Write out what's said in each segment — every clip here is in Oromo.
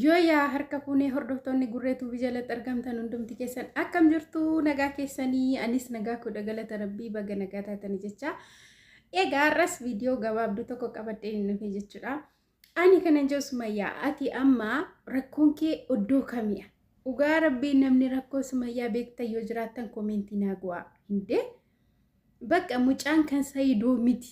Yoo yaa harka fuunee hordoftoonni gurree tuubii jalatti argamtan hundumti keessan akkam jirtu nagaa keessanii anis nagaa kudha galata rabbii baga nagaa taatanii jecha egaa har'as viidiyoo gabaabduu tokko qabadhee hin dhufe jechuudha. Ani kanan jiru sumayyaa ati amma rakkoon kee oddoo kamiya dhugaa rabbii namni rakkoo sumayyaa beektan yoo jiraattan koomeentii naa gu'aa hindee bakka mucaan kan sayidoo miti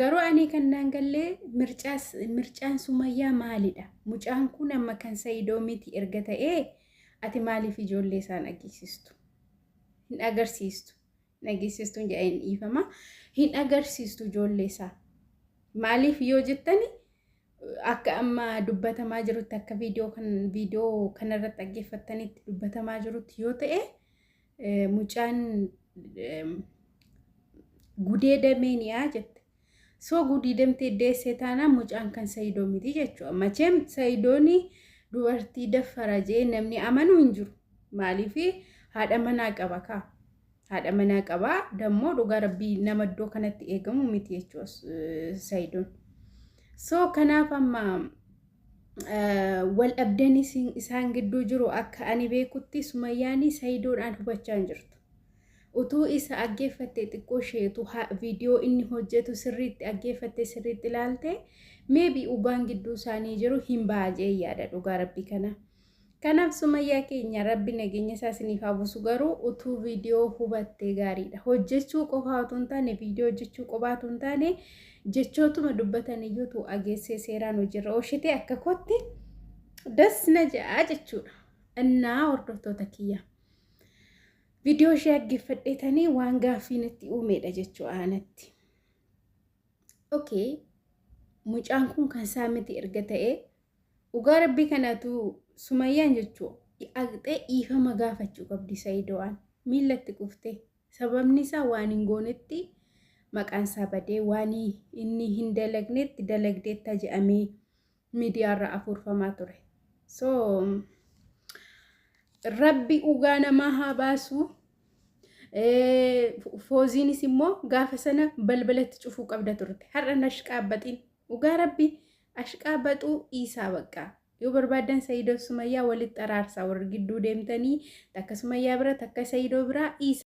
Garuu ani kan naan gallee mircaas mircaan sumayyaa maalidha? Mucaan kun amma kan sayidoo miti erga ta'ee ati maaliif ijoollee isaan agarsiistu? Hin agarsiistu. Hin agarsiistu jedha hin dhiifama. Hin agarsiistu ijoollee isaa. Maaliif yoo jettani akka amma dubbatamaa jirutti akka viidiyoo kan viidiyoo kanarratti dhaggeeffattanitti dubbatamaa jirutti yoo ta'e mucaan gudeedamee ni'aa jette. Soo gudeedamtee deessee taanaan mucaan kan sayidoo miti jechuudha. Macheem sayidooni dubartii daffara jee namni amanu hin jiru. Maaliif haadha manaa qaba kaa. Haadha manaa qaba dammoo dhugaa rabbii nama iddoo kanatti eegamu miti jechuudha sayidoon. Soo kanaaf amma waldhabdeen isaan gidduu jiru akka ani beekutti sumayyaanii sayidoodhaan hubachaa hin jirtu. Utuu isa aggeeffattee xiqqoo isheetu viidiyoo inni hojjetu sirriitti aggeeffattee sirriitti ilaalte meebii ugaan gidduu isaanii jiru hin baajee yaada dhugaa rabbii kana. Kanaaf sumayyaa keenya rabbi nageenya isaa isiniif haa buusu garuu utuu viidiyoo hubattee gaariidha hojjechuu qofaa utuu hin taane viidiyoo hojjechuu qofaa utuu hin taane jechootuma dubbatan iyyuu utuu ageessee seeraan hojiirra oolchitee akka kootti das na ja'a jechuudha innaa hordoftoota kiyya viidiyoo ishee dhaggeeffadheetanii waan gaaffii natti uumeedha jechuu aanatti okay mucaan kun kan isaa miti erga ta'ee Dhugaa rabbii kanatu sumayyaan jechu dhaqxee dhiifama gaafachu qabdi sayido'aan miilla itti qufte sababni isaa waan hin goonetti maqaan isaa badee waan inni hin dalagnetti dalagdeetta je'amee miidiyaarra afuurfamaa ture so rabbi dhugaa namaa haa baasu fooziinis immoo gaafa sana balbalatti cufuu qabda turte har'a nashqaabbaxiin Dhugaa rabbi ashqaa baxuu dhiisaa baqqaa. Yoo barbaaddan Sayiidoof Sumayyaa walitti araarsaa warri gidduu deemtanii takka Sumayyaa bira takka Sayiidoo biraa dhiisaa.